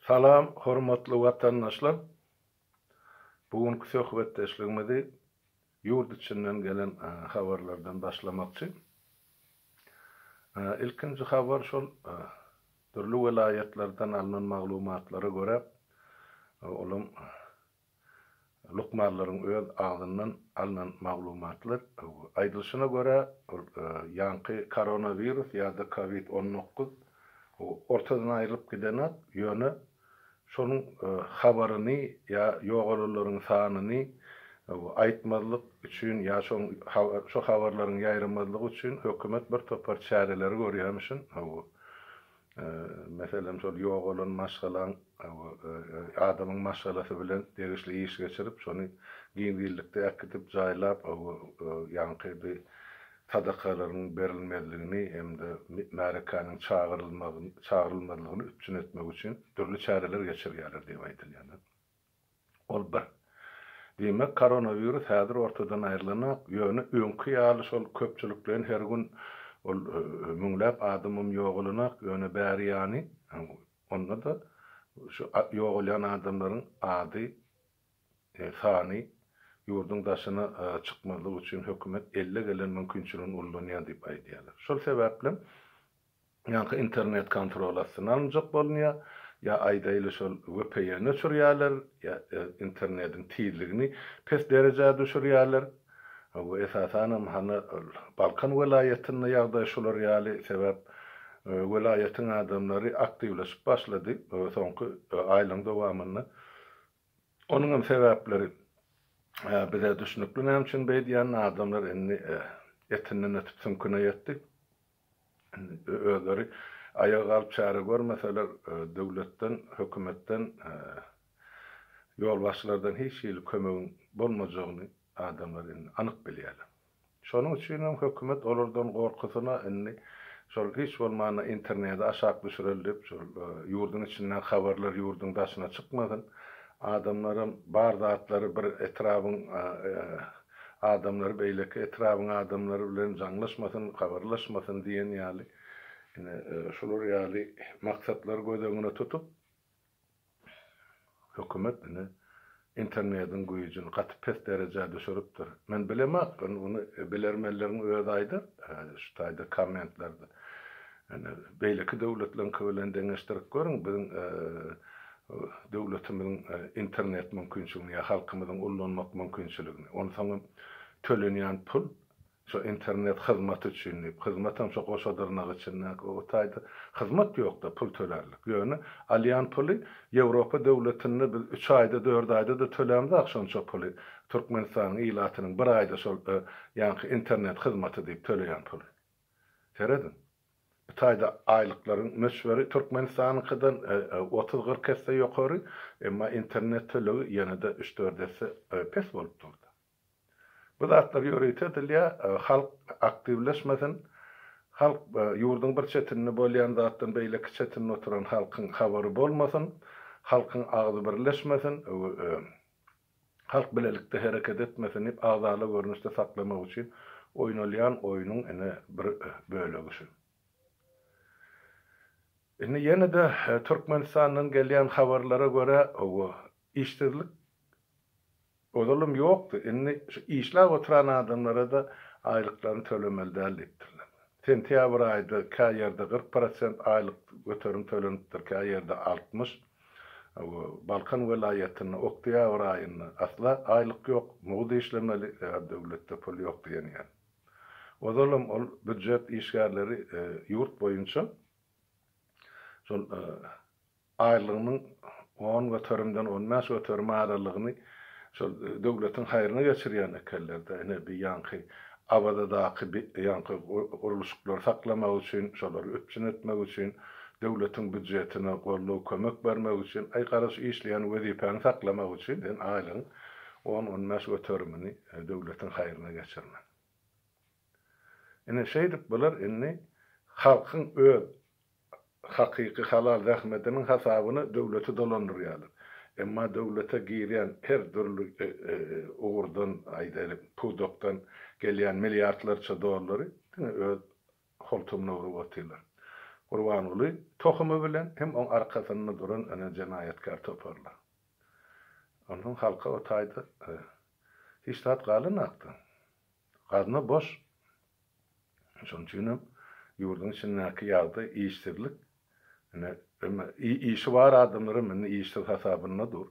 Salam hormatly watandaşlar! Bu günki söhbetdeşligimizi ýurt içinden gelen habarlardan başlamakçy. Ilkinji habar şol dürli welaýatlardan alnan maglumatlara görä, olam Lukmanlaryň öz agzyndan alnan maglumatlar aýdylyşyna görä, ol ýaňky koronawirus ýa-da covid on dokuz ortadan aýrylyp gidenok, ýöne şonuň habaryny ýa ýogalanlaryň sanyny aýtmazlyk üçin ýa şo habarlaryň ýaýramazlygy üçin hökümet bir topar çäreleri görýärmişin. Meselem, şol ýogalan maşgalaň adamyň maşgalasy bilen degişli iş geçirip, şony giňişlikde äkidip, jaýlap, ýaňky bi sadakalaryň berilmezligini hem-de märekäniň çagyrylmazlygyny üpjün etmek üçin dürli çäreler geçirýärler diýip aýdylýar. Ol bir. Diýmek, koronawirus häzir ortadan aýrylanok, ýöne öňki ýaly şol köpçülikleýin her gün ol müňläp adamam ýogalanok, ýöne bäri ýany, onda-da şu ýogalýan adamlaryň ady, sany ýurduň daşyna çykmazlyk üçin hökümet elle gelen mümkinçiligini ullanýar diýip aýdýarlar. Şol sebäplem Ýa-ha internet kontrol astyna alynjak bolunýar, ýa aýdaýly şol VPN öçürýärler, ýa internediň tizligini pes derejä düşürýärler. Bu esasanam hany Balkan welaýatynda ýagdaý şular ýaly, sebäp welaýatyň adamlary aktiwleşip başlady soňky aýlaryň dowamynda. Onuňam sebäpleri bize düşnükli näme üçin beýdýänini, adamlar indi etinden ötüp süňküne ýetdi. özleri aýaga galyp çäre görmeseler, döwletden, hökümetden, ýolbaşçylardan hiç hili kömegiň bolmajagyny adamlar indi anyk bilýärler. Şonuň üçin hem hökümet olardan gorkusyna indi şol hiç bolmanda interneti aşak düşüreli diýip, şol ýurduň içindäki habarlar ýurduň daşyna çykmasyn, adamlaram bar zatlary bir etrabyň Adamlar beýleki etrabyň adamlary bilen jaňlaşmasyn, kagarlaşmasyn diýen ýaly, ine, şular ýaly maksatlary göz öňüne tutup, hökümet, ine, internediň güýjüni gaty pes derejä düşüripdir. Men bilemok, ony bilermenleriň özi aýdar şu taýda kommentlarda. Ýöne beýleki döwletleriňki bilen deňeşdirip görüň, biziň döwletimiziň internet mümkinçiligini ýa halkymyzyň ullanmak mümkinçiligini. Onsoň hem tölenýän pul şo internet hyzmaty üçin diýip, hyzmat hem şo goşa dyrnak içindäki o taýda hyzmat ýok-da pul tölärlik. Ýöne alýan puly Ýewropa döwletinde biz üç aýda, dört aýda-da tölämzok şonça puly, Türkmenistanyň ilatynyň bir aýda şol ýaňky internet hyzmaty diýip töleýän puly. Serediň, bu taýda aýlyklaryň möçberi Türkmenistanyňkydan otuz-kyrk esse ýokary, emma internet tölegi ýene-de üç-dört esse pes bolup durdy. Bu zatlar ýörite edilýär, halk aktiwleşmesin, halk ýurduň bir çetinde bolýan zatdan beýleki çetinde oturan halkyň habary bolmasyn, halkyň agzy birleşmesin. Halk bilelikde hereket etmesin diýip agzaly görnüşde saklamak üçin oýnalýan oýnuň ine bir bölegi şu. Indi ýene-de Türkmenistandan gelýän habarlara görä, hawa, işsizlik ozalam ýokdy, indi şu işläp oturan adamlara-da aýlyklaryny tölemeli däl diýipdirler. Sentýabr aýda kä ýerde kyrk prosent aýlyk göterim tölenipdir, kä ýerde altmyş. Balkan welaýatynda oktýabr aýynda asla aýlyk ýok, mugt işlemeli, sebäbi döwletde pul ýok diýenýär. Ozalam ol býujet işgärleri ýurt boýunça şol aýlygynyň on göterimden on bäş göterim aralygyny Şol döwletiň haýryna geçirýän ekenler-de, ine, bi ýaňky Awazadaky bi ýaňky gurluşyklary saklamak üçin, şolary üpjün etmek üçin, döwletiň býudjetine goldaw, kömek bermek üçin, aý, gara şu işleýän wezipäňi saklamak üçin sen aýlygyň on-on bäş göterimini döwletiň haýryna geçirmeli. Ine, şeýdip bular indi halkyň öz hakyky halal zähmetiniň hasabyna döwleti dolandyrýarlar. Emma döwlete girýän her dürli ugurdan, aýdaýlyk, pudakdan gelýän milliardlarça dollary diňe öz holtumyna urup otyrlar. Gurbanguly tohumy bilen hem oň arkasynda duran ene jenaýatkär toparlar. Onsoň halka o taýda hiç zat galanakdy. Gazna boş. Şonuň üçin hem ýurduň içindäki ýagdaý, işsizlik, ine, emma işi bar adamlar hem indi işsiz hasabynda dur.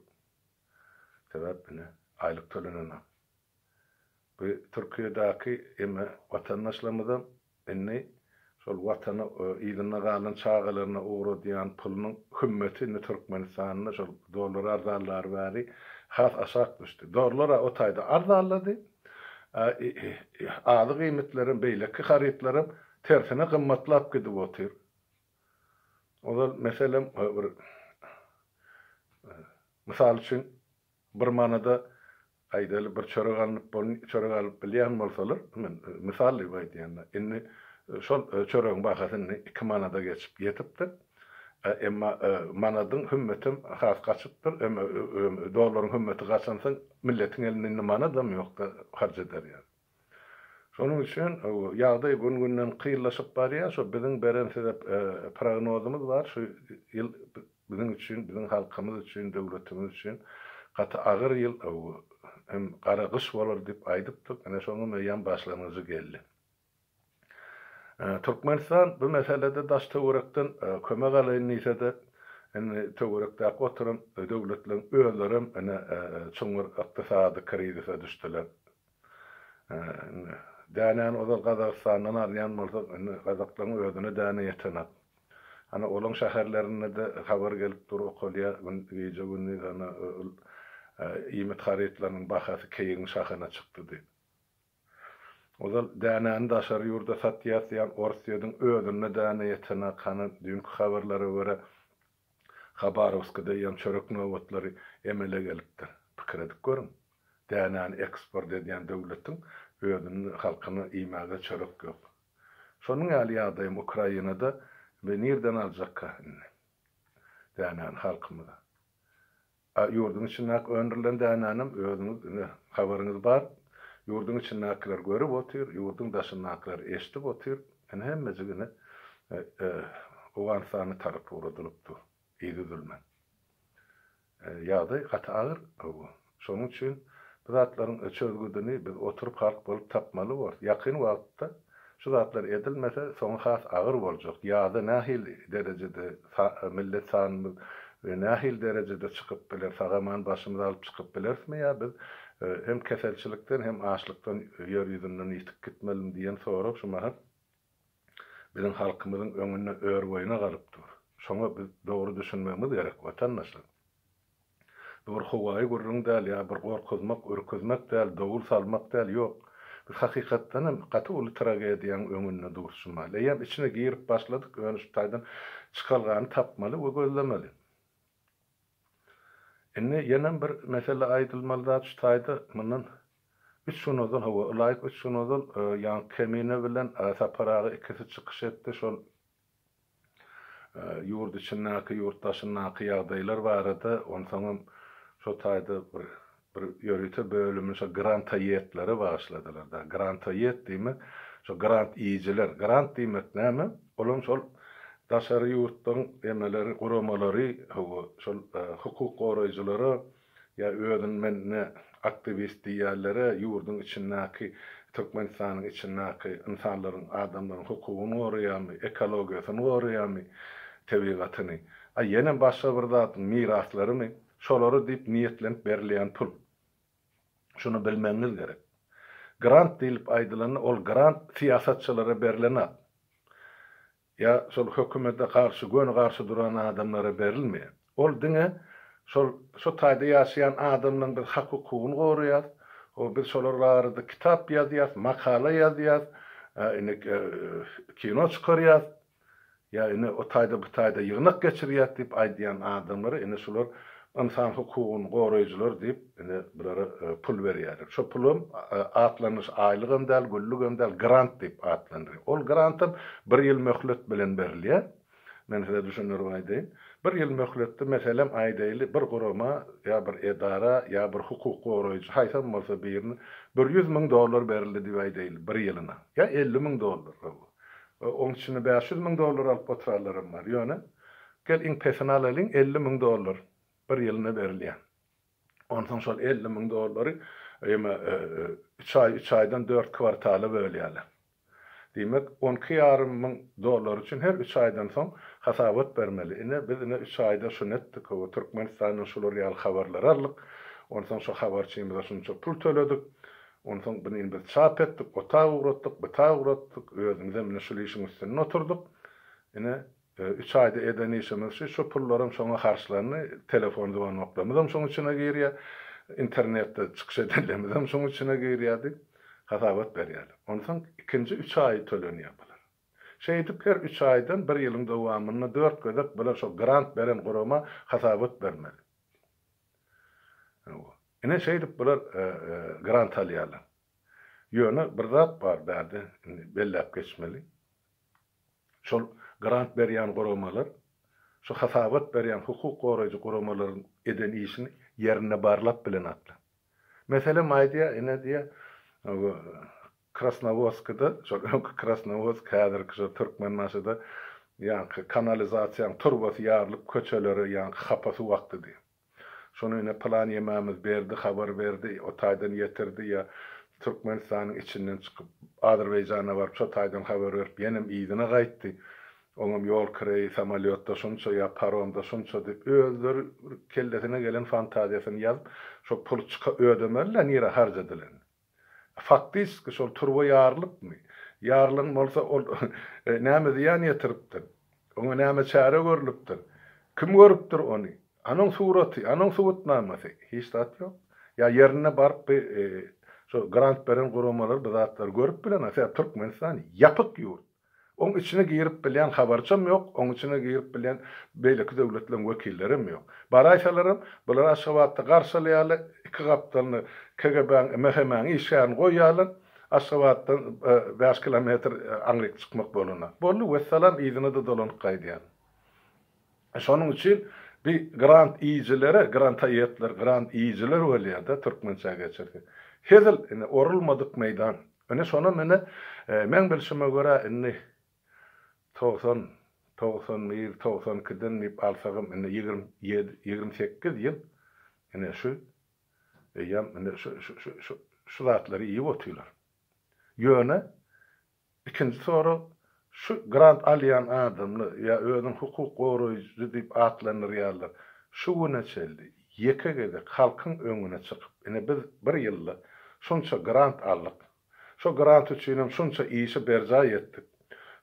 Sebäp ine, aýlyk tölenenok. Bu Türkiýedäki emma watandaşlarymyzam Indi şol Watana yzynda galan çagalaryna ugradýan pulunyň hümmeti indi Türkmenistanda şol dollar arzanlary bäri has aşak düşdi. Dollar-a o taýda arzanlady, a azyk iýmitlerem, beýleki harytlaram tersine gymmatlap gidip otyr. Ozal, meselem, bir mysal üçin, Bir manada, aýdaýly, bir çörek alnyp bol, çörek alyp bilýän bolsalar, men mysal diýip aýdýan-da, indi şol çöregiň bahasy indi iki manada geçip ýetipdir. Emma manadyň hümmetem has gaçypdyr. Emma dollaryň hümmeti gaçansoň, milletiň elinde indi manadam ýok-da, harç eder ýaly. Şonuň üçin ýagdaý gün-günden kynlaşyp barýar. Şo biziň beren size prognozymyz bar. Şu ýyl biziň üçin, biziň halkymyz üçin, döwletimiz üçin gaty agyr ýyl hem gara gyş bolar diýip aýdypdyk. Ine şonuň eýýäm başlangyjy geldi. Türkmenistan bu meselede daş-töwerekden kömek alaýyn diýse-de, indi töwerekdäki oturan döwletleriň özlerem ine çuň bir ykdysady krizise düşdüler. Indi dänäni ozal Gazagystandan alýan bolsak, indi gazaklaryň özüne däne ýetenak. Ana, olaryň şäherlerinde-de habar gelip dur, okalýar, gün, gije-gündiz ana, iýmit harytlarynyň bahasy keýigiň şahyna çykdy diýip. Ozal dänäni daşary ýurda satýas diýen Orsýediň özünde däne ýetenak hany düýnki habarlara görä Habarowskide ýem çörek nobatlary emele gelipdir. Pikir edip görüň. Dänäni eksport edýän döwletiň özünde halkyna iýmäge çörek ýok. Şonuň ýaly ýagdaýam Ukrainada we nirden aljakka indi dänäni halkymyz. A ýurduň içindäki öndürilen dänänem özüňiz ine habaryňyz bar. Ýurduň içindäkiler görüp otyr, ýurduň daşyndakylar eşdip otyr. Ine hemmejik ine Owganystana tarap ugradylypdy yzüzülmän. Ýagdaý gaty agyr bu. Şonuň üçin bu zatlaryň çözgüdini biz oturyp halk bolup tapmaly borus. Ýakyn wagtda Şu zatlar edilmese, soňy has agyr boljak. Ýaza nähili derejede millet sanymyz nähili derejede çykyp biler, sag-aman başymyzy alyp çykyp bilerismi ýa biz hem keselçilikden, hem açlykdan ýer ýüzünden ýitip gitmelimi diýen sorag şu mahal biziň halkymyzyň öňünde örboýuna galyp dur. Şoňa biz dogry düşünmegimiz gerek, watandaşlar. Bu bir howaýy gürrüň däl ýa bir gorkuzmak, ürküzmek däl, dowul salmak däl, ýok, biz hakykatdanam gaty uly tragediýaň öňünde durşumaly, eýýäm içine girip başladyk, ýöne şu taýdan çykalgany tapmaly we gözlemeli. Indi ýenem bir mesele aýdylmaly zat şu taýda, mundan üç gün ozal, hawa, ylaýyk üç gün ozal Ýaňky Kemine bilen Sapar aga ikisi çykyş etdi, şol Ýurt içindäki, ýurt daşyndaky ýagdaýlar barada, onsoňam şo taýda bir bir ýörite bölümi şo grantoýedlere bagyşladylar da. Grantoýed diýmek, şo grant iýijiler. Grant diýmek näme? Olam şol daşary ýurtlaryň emeleri, guramalary, hawa, şol hukuk goraýjylara Ýa özüni men ne aktiwist diýýärlere ýurduň içindäki Türkmenistanyň içindäki ynsanlaryň adamlaryň hukugyny goraýamy ekologiýasyny goraýamy tebigatyny a ýene başga bir zadyň miraslarymy şolary diýip niýetlenip berilýän pul şuny bilmegiňiz gerek grant diýlip aýdylanda ol grant syýasatçylara berilen at Ýa şol hökümete garşy göni garşy duran adamlara berilme. Ol diňe şol şu taýda ýaşaýan adamlaryň biz hak hukugyny goraýas, o biz şolar barada kitap ýazýas, makala ýazýas, ine kino çykarýas, ýa ine o taýda bu taýda ýygnak geçirýäs diýip aýdýan adamlara ine şular ynsan hukugyny goraýjylar diýip Ine, bulara pul berýärler. Şo pulam atlanyş, aýlygam däl, güllügem däl, grant diýip atlandyrýar. Ol grantam bir ýyl möhlet bilen berilýär. Men size düşündirip aýdaýyn. Bir ýyl möhletde, meselem, aýdaýly, bir gurama ýa bir edara ýa bir hukuk goraýjy, haýsam bolsa birine bir ýüz müň dollar berildi diýip aýdaýly, bir ýylyna. Ýa elli müň dollar, hawa. Oň içinde bäş ýüz müň dollar alyp oturanlaram bar. Ýöne, gel iň pesini alalyň, elli müň dollar bir ýylyna berilýär. Onsoň şol elli müň dollary ýeme üç aý, üç aýdan dört kwartala bölýärler. Diýmek, on iki ýarym müň dollar üçin her üç aýdan soň hasabat bermeli. Ine, biz ine üç aýda şuny etdik, o Türkmenistandan şular ýaly habarlary aldyk, onsoň şu habarçymyza şunça pul töledik, onsoň buny indi biz çap etdik, o ta ugratdyk, bu ta ugratdyk, özümizem ine şul işiň üstünde oturdyk. Ine, Üç aýda eden işimiz şu, şu pullaram şoňa harçlandy, telefon zwanoklarymyzam şoň içine girýär, internetde çykyş edenlerimizem şoň içine girýär diýip, hasabat berýärler. Onsoň ikinji üç aýy tölenýär bular. Şeýdip her üç aýdan bir ýylyň dowamynda dört gezek bular şo grant beren gurama hasabat bermeli. Ine, şeýdip bular grant alýarlar. Ýöne bir zat bar bärde indi belläp geçmeli. şol grant berýän guramalar şu hasabat berýän hukuk goraýjy guramalaryň eden işini ýerinde barlap bilenoklar. Meselem aýdýar, ine diýýär, Krasnowodskda, şol öňki Krasnowodsk, häzirki şo Türkmenbaşyda ýaňky kanalizasiýanyň turbasy ýarylyp köçelere ýaňky hapa suw akdy diýýär. Şony ine pylan ýemämiz berdi, habar berdi, o taýdan ýetirdi ýa Türkmenistanyň içinden çykyp, Azerbaýjana baryp, şo taýdan habar berip, ýenem yzyna gaýtdy. Oňam ýol kireýi samolýotda şunça ýa paromda şunça diýip, özleri bir kellesine gelen fantaziýasyny ýazyp, şo puly çyka ödemeli-le nirä harc edilenini. Faktiski şol turba ýarylykmy? Ýarylan bolsa ol näme zyýan ýetiripdir? Oňa näme çäre görlüpdir? Kim görüpdir ony? Anoň suraty, anoň subutnamasy? Hiç zat ýok. Ýa ýerinde baryp bi şo grant beren guramalar bu zatlary görüp bileňa? Sebäbi Türkmenistan ýapyk ýurt. Oň içine girip bilýän habarçam ýok, oň içine girip bilýän beýleki döwletleriň wekillerem ýok. Baraýsalaram, bular Aşgabatda garşalaýarlar, iki gapdalyna KGB-niň, MHM-niň işgärini goýýarlar, Aşgabatdan bäş kilometr aňryk çykmak bolanda. Boldy, wessalam, yzyna-da dolanyp gaýdýarlar. Şonuň üçin bi grant iýijilere, granta iýetler, grant iýijiler bolýada türkmençä geçirse. Hezil, indi orulmadyk meýdan. Indi şonam indi meň bilşime görä indi togsan, togsan bir, togsan ikiden diýip alsagam indi ýigrimi ýedi, ýigrimi sekiz ýyl indi şu eýýam indi şu şu şu şu şu zatlary iýip otyrlar. Ýöne Ikinji sorag, şu grant alýan adamlar, ýa özüni hukuk goraýjy diýip atlandyrýarlar, şu güne çenli ýeke gezek halkyň öňüne çykyp, ine biz bir ýylda şunça grant aldyk, şo grant üçinem şunça işi berjaý etdik,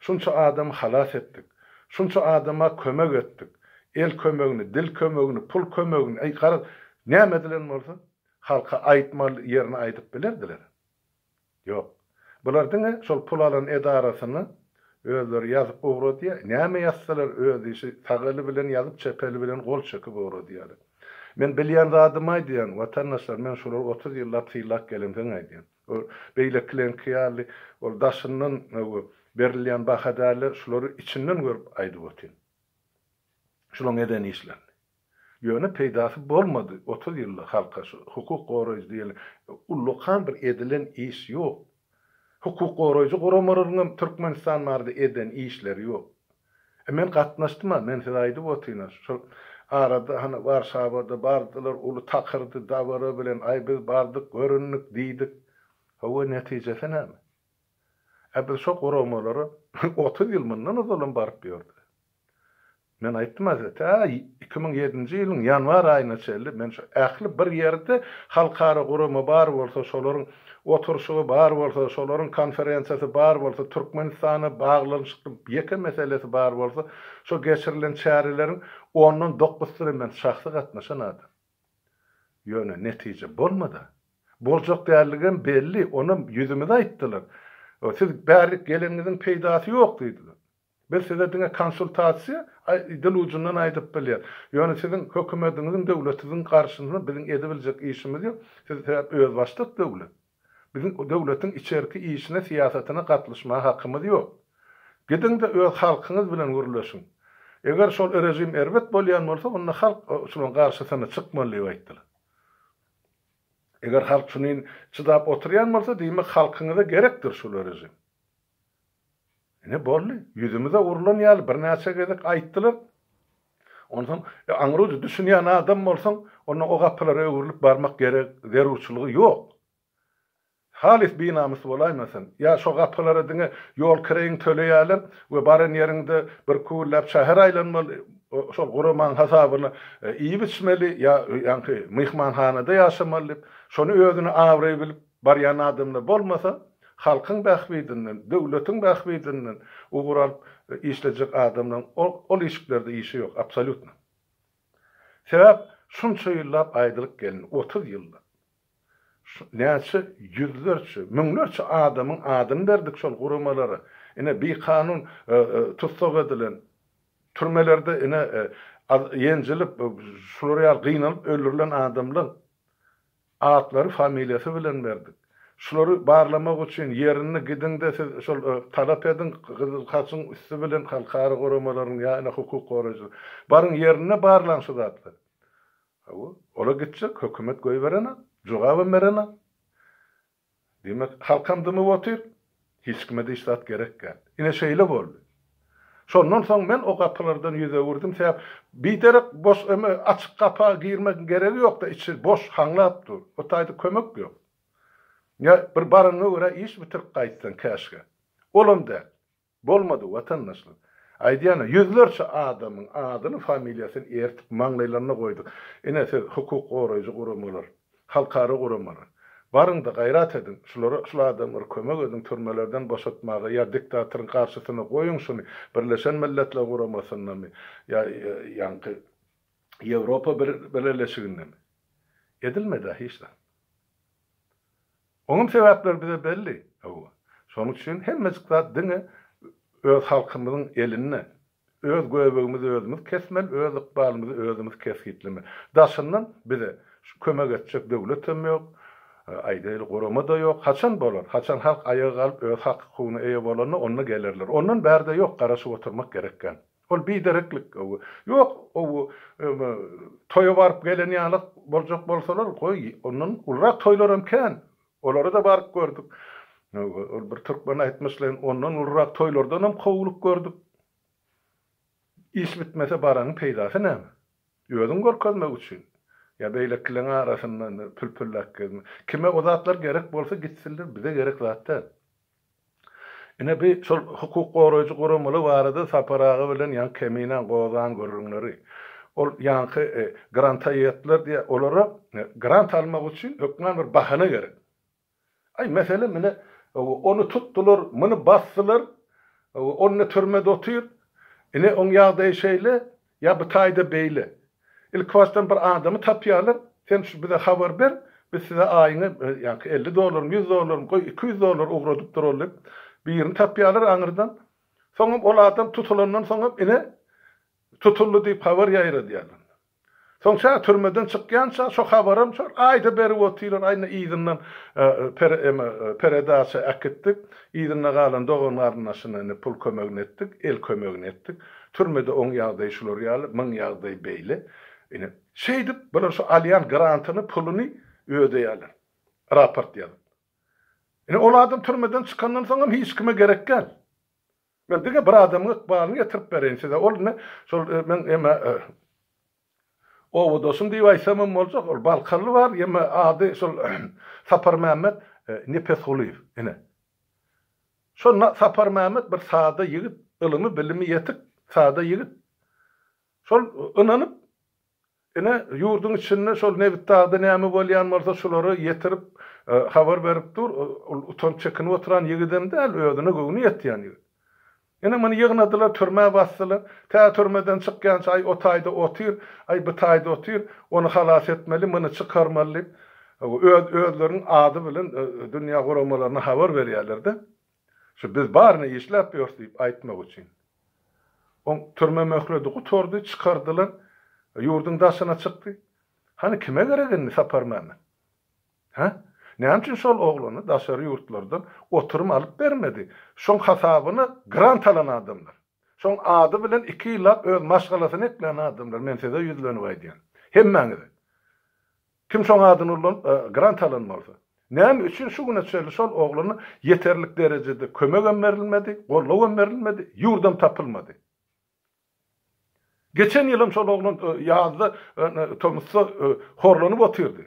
şunça adamy halas etdik, şunça adama kömek etdik, el kömegini, dil kömegini, pul kömegini, äý garaz, näme edilen bolsa, halka aýtmaly ýerini aýdyp bilerdiler. Ýok. Bular diňe şol pul alan edarasyny özleri ýazyp ugradýar. Näme ýazsalar öz işi, sag eli bilen ýazyp çep eli bilen gol çekip ugradýarlar. Men bilýän zadymy aýdýan, watandaşlar, men şulara otuz ýyllap sylap gelemsoň aýdýan. Bu beýlekileňki ýaly ol daşyndan öwgi berilýän baha dälde, şulary içinden görüp aýdyp otyryn. Şulaň eden işlerini. Ýöne peýdasy bolmady, otuz ýylda halka şu hukuk goraýjy diýeli ullakan bir edilen iş ýok. Hukuk goraýjy guramalaryň hem Türkmenistan barada eden işleri ýok. E men gatnaşdym-a, men size aýdyp otyryn-a, şol arada hany Warşawada bardylar, uly takyrdy, dabara bilen, aý biz bardyk, göründik, diýdik. Hawa, netijesi näme? Ä biz şo guramalara otuz ýyl mundan ozal hem baryp ýördi. Men aýtdym Aziz, tä iki müň ýedinji ýylyň ýanwar aýyna çenli men şu ähli bir ýerde halkara gurama bar bolsa, şolaryň oturyşygy bar bolsa, şolaryň konferensiýasy bar bolsa, Türkmenistana baglanyşykly ýeke meselesi bar bolsa, şo geçirilen çäreleriň ondan dokusyna men şahsy gatnaşan adam. Ýöne netije bolmady-a. Boljak däldigem belli, onam ýüzümize aýtdylar. Siz bärlik geleniňiziň peýdasy ýok diýdiler. Biz size diňe konsultasiýa dil ujundan aýdyp bilýäs. Ýöne siziň hökümediňiziň döwletiziň garşysyna biziň edibiljek işimiz ýok. Siz sebäp özbaşdak döwlet. Biziň döwletiň içerki işine syýasatyna gatlyşmaga hakymyz ýok. Gidiňde öz halkyňyz bilen gürleşiň. Eger şol režim erbet bolýan bolsa onda halk şulan garşysyna çykmaly diýip aýtdylar. Eger halk şunin çydap oturýan bolsa diýmek halkyňyza gerekdir şul režim. Ine, boldy. Ýüzümize urlan ýaly birnäçe gezek aýtdylar. Onsoň, aňry-uja düşünýän adam bolsaň, onda o gapylara öwrülip barmak gerek, zerurçylygy ýok. Halys binamys bolaýmasyn, ýa şo gapylara diňe ýol kireýiňi töleýärler we baran ýeriňde bir küwülläp şäher aýlanmaly, şol guramaň hasabyna iýip-içmeli ýa ýaňky myhmanhanada ýaşamaly diýip, şony özüne abraý bilip, Barýan adamda bolmasa, halkyň bähbidinden, döwletiň bähbidinden ugur alyp işlejek adamlaryň ol işiklerde işi ýok, absolýutno. Sebäp, şunça ýyllap aýdylyp gelindi, otuz ýyllap. Näçe ýüzlerçe, müňlerçe adamyň adyny berdik şol guramalara. Ine, bikanun tussag edilen, türmelerde ine, ýenjilip, şular ýaly gynalyp öldürilen adamlaryň Atlary familiýasy bilen berdik. Şulary barlamak üçin ýerini gidiňde siz şol talap ediň gyzyl haçyň üsti bilen halkara guramalaryň ýa ine hukuk goraýjylar. Baryň ýerinde barlaň şu zatlary. Hawa, ola gitjek, hökümet goýberenok, jogabam berenok. Demek, halkam dymyp otyr, hiç kime diş zat gerekgän. Ine şeýle boldy. Şondan soň men o gapylardan ýüz öwürdim, sebäp biderek boş öme açyk gapa girmegiň geregi ýokda, içi boş, haňlap dur. O taýda kömek ýok. Ýa bir baryňa görä iş bitirip gaýtsaň käşgä. Olam däl. Bolmady watandaşlar. Aýdýana ýüzlerçe adamyň adyny familiýasyny ertip maňlaýlaryna goýduk. Ine siz hukuk goraýjy guramalar, halkara guramalar. Baryňda gaýrat ediň şulara şul adamlary kömek ediň türmelerden boşatmaga ýa diktatoryň garşysyna goýuň şuny birleşen milletler guramasyndamy ýa ýaňky ýewropa birleşigindemi edilmedä hiç zat. Onuň sebäpleri bize belli, hawa. Şonuň üçin hemmejik zat diňe öz halkymyzyň elinde. Öz göbegimizi özümiz kesmeli, öz ykbalymyzy özümiz kesgitlemeli. Daşyndan bize kömek etjek döwletem ýok, aýdaýly, gurama-da ýok. Haçan bolar? Haçan halk aýaga galyp, öz hak-hukugyna eýe bolanda, onda gelerler. Ondan bärde ýok, garaşyp oturmak gerek kän. Ol bidereklik, ow-u. Ýok, ow-u, öm-ä, toýa baryp gelen ýaly boljak bolsalar, goý, ondan ulurak toýlaram kän. Olara-da baryp gördük. Öw-ü, ol bir türkmen aýtmyşlaýyn, ondan ulurak toýlardanam kowulyp gördük. Iş bitmese baranyň peýdasy näme? Özüňi görkezmek üçin. Ýa beýlekileň arasynda indi pülpülläp gezmek. Kime o zatlar gerek bolsa gitsinler, bize gerek zat däl. Ine bi şol hukuk goraýjy guramaly barada Sapar aga bilen ýaňy Keminäň gozan gürrüňleri. Ol ýaňky granta ýetdiler diýýä, olara grant almak üçin hökman bir bahana gerek. Aý mesele mine ony tutdular, muny basdylar, ony türmede otyr. Ine oň ýagdaýy şeýle, Ýa bu taýda beýle. Ilkibasdan bir adamy tapýarlar, sen şu bize habar ber, biz size aýyňy, ýaňky elli dollarmy, ýüz dollarmy, goý, iki ýüz dollar ugradyp durally diýip, birini tapýarlar aňyrdan. Soňam ol adam tutulandan soňam ine, tutuldy diýip habar ýaýradýarlar. Soň şa türmeden çykýança şo habaram şol aýda berip otyrlar, aý indi yzyndan pere eme peredaça äkitdik, yzynda galan dogan-garyndaşyna indi pul kömegini etdik, el kömegini etdik. Türmede oň ýagdaýy şular ýaly, muň ýagdaýy beýle. Ine, şeýdip, bular şu alýan grantyny, puluny ödeýärler, raport ýazyp. Ine, ol adam türmeden çykandan soňam hiç kime gerek däl. Men diňe bir adamyň ykbalyny getirip bereýin size, ol ine, şol, men eme, Owadoşum diýip aýtsamam boljak, ol balkaly bar, ýeme ady şol Saparmämmet Nepesgulyýew, ine. Şo Saparmämmet bir sada ýigit, ylymy-bilimi ýetik sada ýigit. Şol ynanyp, ine, ýurduň içinde şol Nebitdagda näme bolýan bolsa, şulara ýetirip, habar berip dur, ol utanyp-çekinip oturan ýigidem däl, özüne göwni ýetýän ýigit. Ine, muny ýygnadylar, türmä basdylar. Tä türmeden çykýança, Aý, o taýda otyr, aý, bu taýda otyr, ony halas etmeli, muny çykarmaly diýip, öz, özleriniň ady bilen dünýä guramalaryna habar berýärler-de, şu biz baryny işläp ýörüs diýip aýtmak üçin. Oň türme möhledi gutardy, çykardylar, ýurduň daşyna çykdy. Hany, kime gerek indi Saparmämmet? Hä? Näme üçin şol oglana daşary ýurtlardan oturum alyp bermedi? Şoň hasabyna grant alan adamlar. Şoň ady bilen iki ýyllap öz maşgalasyny eklän adamlar, men size ýüzlenip aýdýan. Hemmäňize. Kim şoň adyny ulanyp, grant alan bolsa. Näme üçin şu güne çenli şol oglana ýeterlik derejede kömegem berilmedi, gollawam berilmedi, ýurdam tapylmady? Geçen ýylam şol oglan ýazda tomusda horlanyp otyrdy.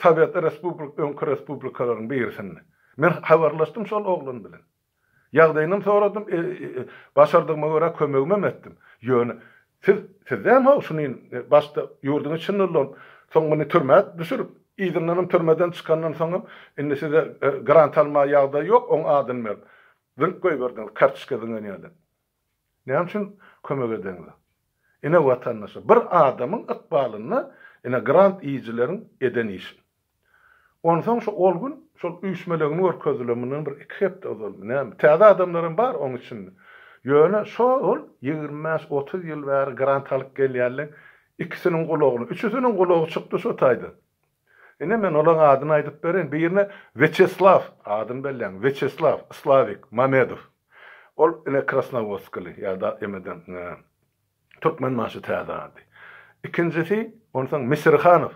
Sowet respublik öňki respublikalaryň birisinde. Men habarlaşdym şol oglan bilen. Ýagdaýynam soradym, başardygyma görä kömegimem etdim. Ýöne siz sizdäm-how şunin başda ýurduň içinde ulanyp, soň muny türmä düşürip, yzyndanam türmeden çykandan soňam indi size grant almaga ýagdaý ýok, oň adyny berip, Dürüp goýberdiňiz kartoçka zyňan ýaly. Näme üçin kömek edeňiz? Ine watandaşa, bir adamyň ykbalynda ine grant iýijileriň eden işi. Onsoň şu ol gün şol üýşmelegini görkezdiler mundan bir iki hepde ozalmy näme. Täze adamlaram bar oň içinde. Ýöne şo-ol ýigrimi bäş, otuz ýyl bäri grant alyp gelýänleň ikisiniň gulagyny, üçüsiniň gulagy çykdy şo taýdan. Ine, men olaryň adyny aýdyp bereýin. Birine Wýaçeslaw, adyny belläň, Wýaçeslaw, Slawik, Mamedow. Ol, ine, krasnowodskaly ýa-da emeden Türkmenbaşy täze ady. Ikinjisi, onsoň Misirhanow.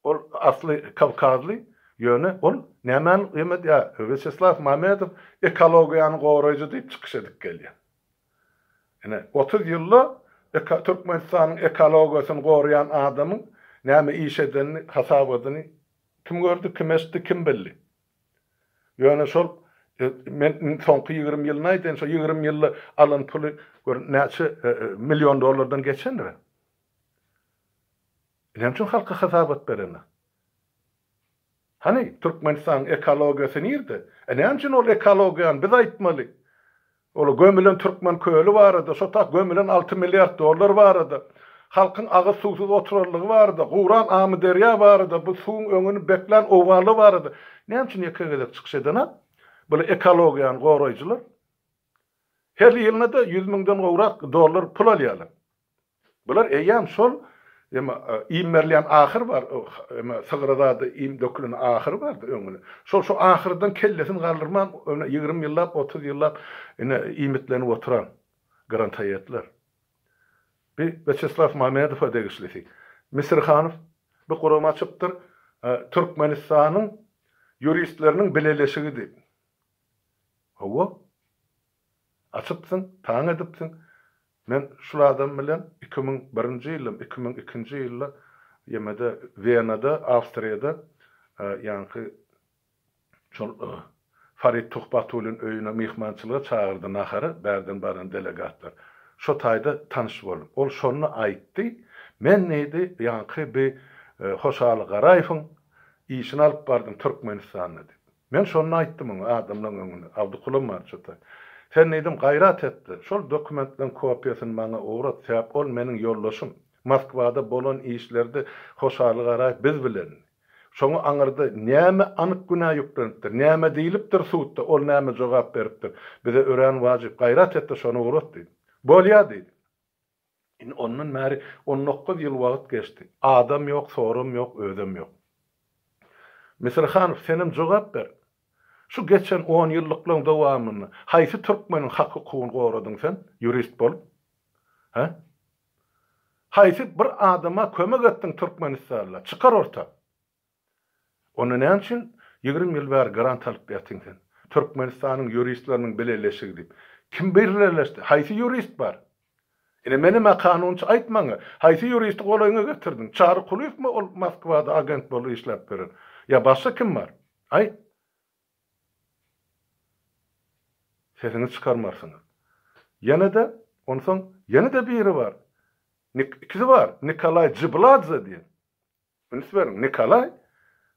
Ol asly kawkazly, ýöne ol nämäni emed ýa Wýaçeslaw Mamedow ekologiýany goraýjy diýip çykyş edip gelýär. Ine, otuz ýylda Türkmenistanyň ekologiýasyny goraýan adamyň näme iş edenini, hasabadyny kim gördi, kim eşitdi, kim bildi? Ýöne şol men soňky ýigrimi ýylyny aýdaýyn, şol ýigrimi ýylda alan puly gör näçe million dollardan geçendir-ä? Näme üçin halka hasabat berenok? Hany, Türkmenistanyň ekologiýasy nirde? E näme üçin ol ekologiýany biz aýtmaly? Ol gömülen Türkmen köli barada, şo tak gömülen alty milliard dollar barada, halkyň agyz suwsuz oturanlygy barada, guran Amyderýa barada, bu suwuň öňüni beklän owganlar barada näme üçin ýeke gezek çykyş edenok? Bular ekologiýany goraýjylar. Her ýylyna-da ýüz müňden gowrak dollar pul alýarlar. Bular eýýäm şol, emma iým berilýän ahyr bar, emma sygyra zada iým dökülen ahyry bardy öňüni. Şol şu ahyrdan kellesini galdyrman, ine ýigrimi ýyllap, otuz ýyllap ine iýmitlenip oturan grantaýetler. Bi Wýaçeslaw Mamedowa degişlisi. Misirhanow, bu gurama çypdyr, Türkmenistanyň ýuristleriniň bileleşigi diýip. Hawa. Açypsyň, taň edipsiň. Men şul adam bilen iki müň birinji ýyldam, iki müň ikinji ýylda ýemede Wenada, Awstriýada ýaňky şol Farid Tuhbatulyň öýüne myhmançylyga çagyrdy nahara bärden baran delegatlar. Şo taýda tanyş bolduk. Ol şonda aýtdy, Men diýdi, ýaňky bi Hoşaly Garaýewiň işini alyp bardym Türkmenistanda diýip. Men şonda aýtdym oňa, adamlaň öňünde, Abdykulam bar çyta. Sen diýdim, gaýrat et-de, şol dokumentlaň kopiýasyny maňa ugrat, sebäp ol meniň ýoldaşym. Moskwada bolan işlerde Hoşaly Garaýew biz bilendi. Şoňa aňyrda näme anyk günä ýüklenipdir, näme diýlipdir sudda, ol näme jogap beripdir, bize örän wajyp, gaýrat et-de, şony ugrat diýdim. Bolýa diýdi. Indi ondan bäri on dokuz ýyl wagt geçdi. Adam ýok, soram ýok, özem ýok. Misir Hanow, senem jogap ber! Şu geçen on ýyllyklaryň dowamynda haýsy türkmeniň hak-hukugyny goradyň sen, ýurist bolup? Hä? Haýsy bir adama kömek etdiň Türkmenistanda? Çykar orta! Onda näme üçin ýigrimi ýyl bäri grant alyp ýatyň sen? Türkmenistanyň ýuristleriniň bileleşigi diýip. Kim birleleşdi? Haýsy ýurist bar? Ine menema kanunçy aýt maňa, haýsy ýuristi golaýyňa getirdiň? Çary Kulyýewmi ol Moskwada agent bolup işläp ýören? Ýa başga kim bar? Aýt. Sesiňizi çykarmarsyňyz. Ýene-de, onsoň, ýene-de biri bar. Nik, ikisi bar. Nikolaý Jibladze diýen. Üns beriň, Nikolaý,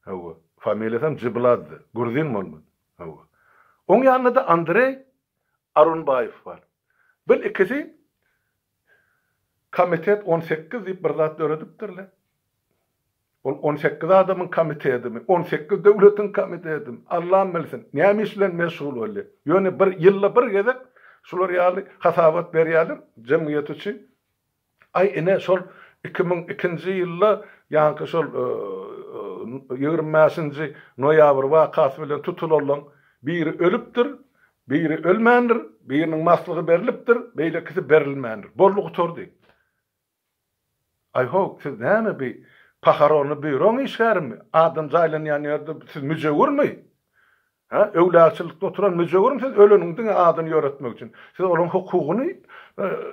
hawa, familiýasam Jyblazdy, gruzin bolman, hawa. Oň ýanynda-da Andreý Arunbaýew bar. Bil, ikisi Komitet on sekiz diýip bir zat döredipdirler. Ol on sekiz adamyň komitedimi, on sekiz döwletiň komitedimi, Allam bilsin, näme iş bilen meşgul bolýar. Ýöne bir ýylda bir gezek şular ýaly hasabat berýärler jemgyýet üçin. Aý ine şol iki müň ikinji ýylda ýaňky şol ýigrimi bäşinji noýabr wakasy bilen tutulanlaň biri ölüpdir, biri ölmändir, biriniň maslygy berlipdir, beýlekisi berilmändir. Boldy gutardy. Aý-ho, siz näme bi pahoronny býuroň işgärimi? Adam jaýlanýan ýerde siz müjewürmi? Hä, öwlagçylykda oturan müjewirim siz öleniň diňe adyny ýöretmek üçin. Siz olaň hukugyny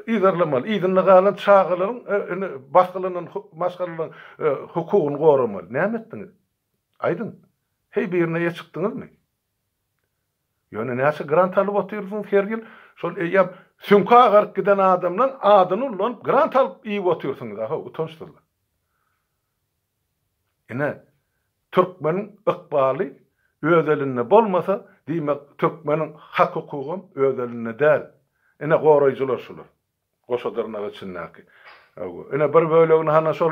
yzarlamaly, yzynda galan çagalaryň indi basgylanan maşgalalaryň hukugyny goramaly. Näme etdiňiz? Aýdyň. Heý birine eýe çykdyňyzmy? Ýöne näçe grant alyp otyrsyňyz her ýyl? Şol eýýäm süňki agaryp giden adamlaň adyny ullanyp grant alyp iýip otyrsyňyz-a ho, utançsyzlar. Ine, türkmeniň ykbaly öz elinde bolmasa, diýmek, türkmeniň hak-hukugam öz elinde däl. Ine, goraýjylar şular. Goşa dyrnak içindäki. Ine, bir bölegini hana şol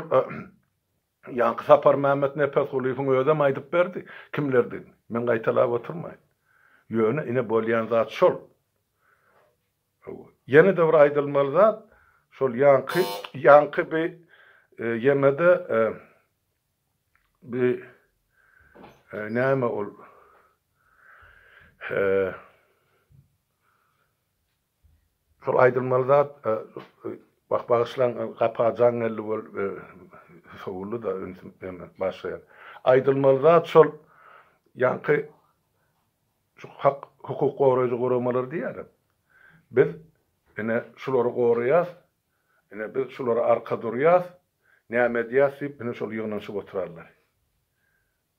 ýaňky Saparmämmet Nepesgulyýewiň özem aýdyp berdi, kimlerdigini. Men gaýtalap oturmaýyn. Ýöne, ine, bolýan zat şol. Hawa. Ýene-de bir aýdylmaly zat, şol ýaňky, ýaňky bi ýene-de bi näme ol şol aýdylmaly zat, wah, bagyşlaň, gapa jaň geldi bol, sowuldy-da, ünsüm, näme, başlaýar. Aýdylmaly zat şol ýaňky Şu hak hukuk goraýjy guramalar diýýärem. Biz ine şulary goraýas, ine biz şulara arka durýas, näme edýäs diýip ine şol ýygnanyşyp oturarlar.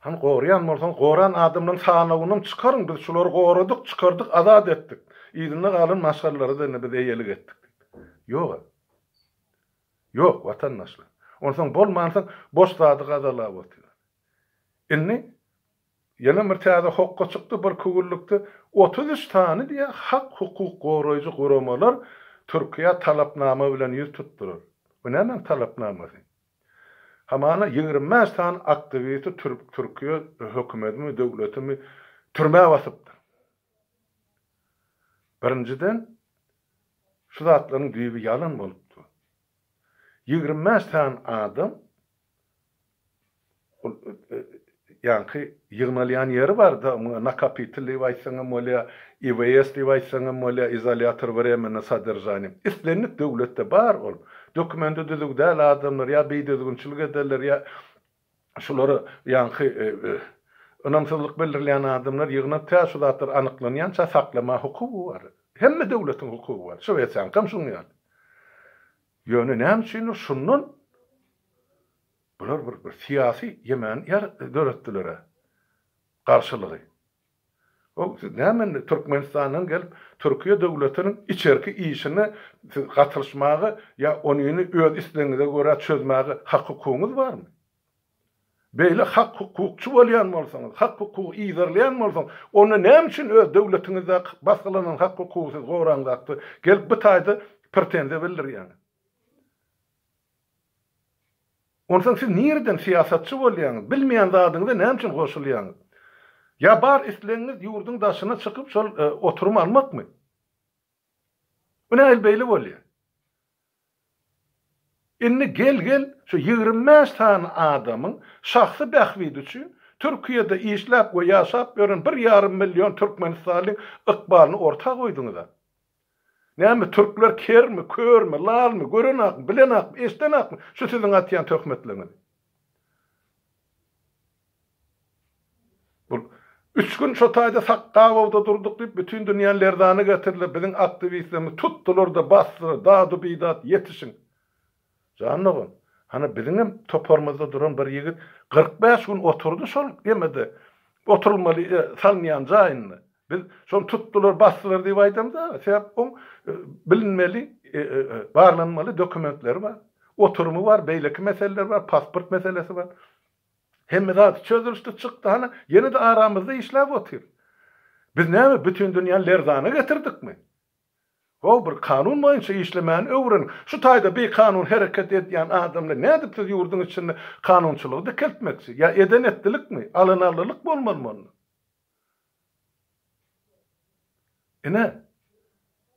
Hany goraýan bolsaňyz goran adamlaryň sanawynam çykaryň biz şulary goradyk, çykardyk, azat etdik. Yzynda galan maşgalalara-da ine biz eýelik etdik diýip. Ýog-a. Ýok watandaşlar. Onsoň bolmansoň boş zady gazalap otyr. Indi Ýene bir täze hokga çykdy, bir kowillykde otuz üç sany diýe hak-hukuk goraýjy guramalar Türkiýä talapnama bilen ýüz tutdular. Bu nämäň talapnamasy? Hamana ýigrimi bäş sany aktiwisti Türkiýe hökümetimi, döwletimi türmä basypdyr. Birinjiden, şu zatlaryň düýbi ýalan bolup dur. Ýigrimi bäş sany adam Ol ýaňky ýygnalýan ýeri bar-da, muňa nakapitel diýip aýtsaň hem bolýar, IVS diýip aýtsaň hem bolýar, izolýator wremennoý sodržaniýa. Islendik döwletde bar ol. Dokumenti düzüw däl adamlar ýa bidüzgünçilik ederler, ýa şulary ýaňky ynamsyzlyk bildirýän adamlar ýygnap, tä şu zatlar anyklanýança saklamaga hukugy bar. Hemme döwletiň hukugy bar. Şwesiýaňkam şuň ýaly. Ýöne näme üçindir, şundan Bular bir bir syýasy ýemen ýer döretdilere garşylygy. Hoow siz näme indi Türkmenistandan gelip Türkiýe döwletiniň içerki işine siz gatylyşmaga ýa onyny öz islegiňize görä çözmäge hak hukugyňyz barmy? Beýle hak hukukçy bolýan bolsaňyz, hak hukugy yzarlaýan bolsaňyz onda näme üçin öz döwletiňizdäki basgylanan hak hukugy siz goraňzakda gelip bu taýda pretenziýa bildirýäňiz? Onsoň siz nireden syýasatçy bolýaňyz, bilmeýän zadyňyza näme üçin goşulýaňyz? Ýa bar islegiňiz ýurduň daşyna çykyp şol oturymy almakmy? Bu nähili beýle bolýar? Indi gel gel şu ýigrimi bäş sany adamyň şahsy bähbidi üçin Türkiýede işläp we ýaşap ýören bir ýarym million türkmenistalyň ykbalyny orta goýduňyza. Näme, türkler kermi, körmi, lalmy, görenakmy, bilenakmy, eşdenakmy şu siziň atýan töhmetleriňizi? Bul Üç gün şo taýda Sakgabowda durduk diýip, bütin dünýäni lerzana getirdiler, biziň aktiwistlerimizi tutdular-da, basdylar, dadu-bidat, ýetişiň! Jan dogan, hany biziňem toparymyzda duran bir ýigit kyrk bäş gün oturdy şol gemide, oturylmaly salynýan jaýynda. Biz şony tutdular, basdylar diýip aýdamyz aga, sebäp oň bilinmeli, barlanmaly dokumentleri bar, oturymy bar, beýleki meseleleri bar, pasport meselesi bar. Hemme zady çözülişdi, çykdy, hany ýene-de aramyzda işläp otyr. Biz näme, bütin dünýäni lerzana getirdikmi? How bir kanun boýunça işlemäni öwreniň. Şu taýda bikanun hereket edýän adam bilen nädip siz ýurduň içinde kanunçylygy dikeltmekçi? Ýa eden etdilikmi? Alynarlylyk bolmalymy onda? Ine,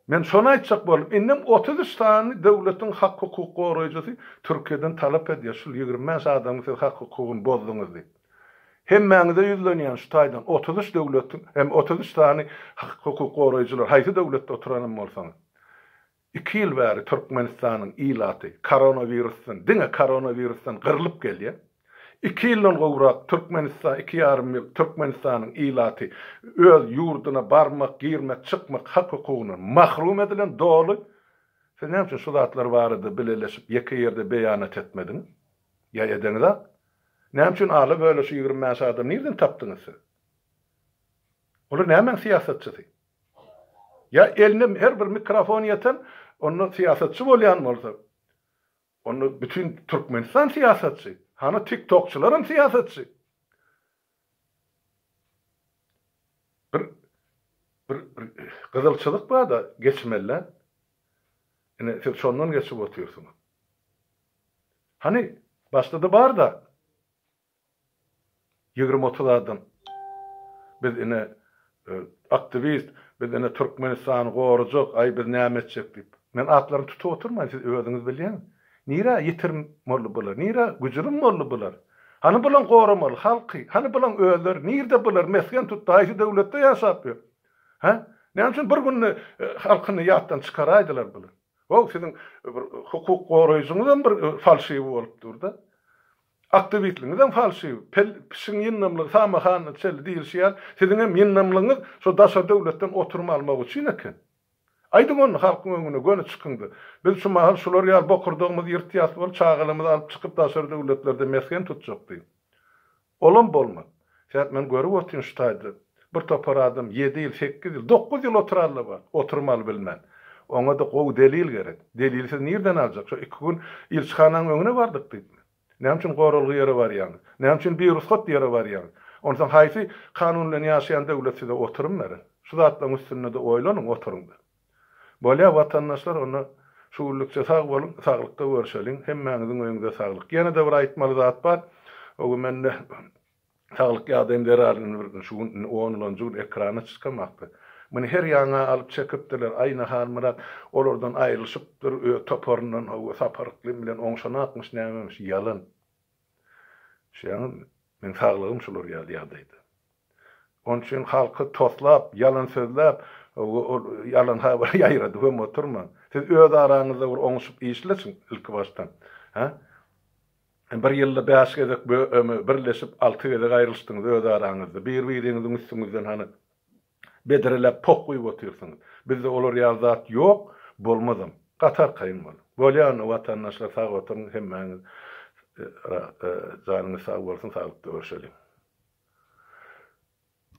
men şony aýtjak boldum. Indem otuz üç sany döwletiň hak-hukuk goraýjysy Türkiýeden talap edýär, şul ýigrimi bäş adamyň siz hak-hukugyny bozduňyz diýip. Hemmäňize ýüzlenýän şu taýdan otuz üç döwletiň hem otuz üç sany hukuk goraýjylar haýsy döwletde oturanam bolsaňyz iki ýyl bäri Türkmenistanyň ilaty koronawirusdan diňe koronawirusdan gyrlyp gelýär. Iki ýyldan gowrak Türkmenistan iki ýarym ýyl Türkmenistanyň ilaty öz ýurduna barmak girmek çykmak hak hukugyndan mahrum edilen doly siz näme üçin şu zatlar barada bileleşip ýeke ýerde beýanat etmediňiz? Ýa edeňizak? Näme üçin ala böle şu ýigrimi bäş adamy nirden tapdyňyz siz? Olar nämäň syýasatçysy? Ýa eline her bir mikrofon ýeten, onda syýasatçy bolýan bolsa, onda bütin Türkmenistan syýasatçy, hany tiktokçylaram syýasatçy. Bir bir bir gyzylçylyk bar-da geçmelä. Ine, siz şondan geçip otyrsyňyz. Hany, başda-da bar-da. Ýigrimi-otuz adam. Biz ine Aktiwist, Biz ine Türkmenistany gorajak, aý biz näme etjek diýip. Men atlaryny tutup oturmaýyn, siz özüňiz bilýäňiz. Nirä ýitirim boldy bular, nirä güjürim boldy bular? Hany bulaň goramaly halky, hany bulaň özleri, nirde bular, mesgen tutdy, haýsy döwletde ýaşap ýör? Hä? Näme üçin bir günde halkyny ýatdan çykaraýdylar bular? Waw, siziň bir hukuk goraýjyňyzam bir falşiwi bolup dur-da. Aktiwistligiňizem falşiw, pel, pişiň ýyndamlygy samy hany çel diýilşi ýaly, siziňem ýyndamlygyňyz şo daşary döwletden oturum almak üçin eken. Aýdyň ony halkyň öňüne, göni çykyňda, biz şu mahal şular ýaly bokurdagymyzy ýyrtýas bolup, çagalarymyzy alyp çykyp daşary döwletlerde mesgen tutjak diýiň. Olam bolmaz. Sen men görüp otyryn şu taýda bir topar adam ýedi ýyl, sekiz ýyl, dokuz ýyl oturarlar bar, oturmaly bilmän. Oňa-da gowy delil gerek. Delili siz nirden aljak? Şo iki gün ilçihananyň öňüne bardyk diýipmi? Näme üçin goralgy ýere barýaňyz? Näme üçin birugsat ýere barýaňyz? Onsoň haýsy kanun bilen ýaşaýan döwlet size oturym berer? Şu zatlaryň üstünde-de oýlanyň, oturyň-da. Bolýa watandaşlar onda şu günlükçe sag boluň, saglykda görşeliň, hemmäňiziň öýüňize saglyk. Ýene-de bir aýtmaly zat bar, o gün mende saglyk ýagdaýym zerarly bir şu gün indi onlanjy gün ekrana çykamakda. Muny her ýaňa alyp çekipdirler, Aýna Halmyrat olardan aýrylyşypdyr, öz toparyndan hawa Sapar Yklym bilen oňşanakmyş nämemiş, ýalan. Düşýäňizmi? Meň saglygym şular ýaly ýagdaýda. Onuň üçin halky toslap, ýalan sözläp, ol ýalan habary ýaýradyp hem oturmaň. Siz öz araňyzda bir oňuşyp işleşiň ilkibaşdan. Hä? Bir ýylda bäş gezek birleşip, alty gezek aýrylyşdyňyz öz araňyzda. Bir-biriňiziň üstüňizden hany bedreläp poh guýup otyrsyňyz. Bizde olar ýaly zat ýok, bolmazam. Gaty arkaýyn bol. Bolýan watandaşlar sag oturyň hemmäňiz janyňyz sag bolsun saglykda görşeliň.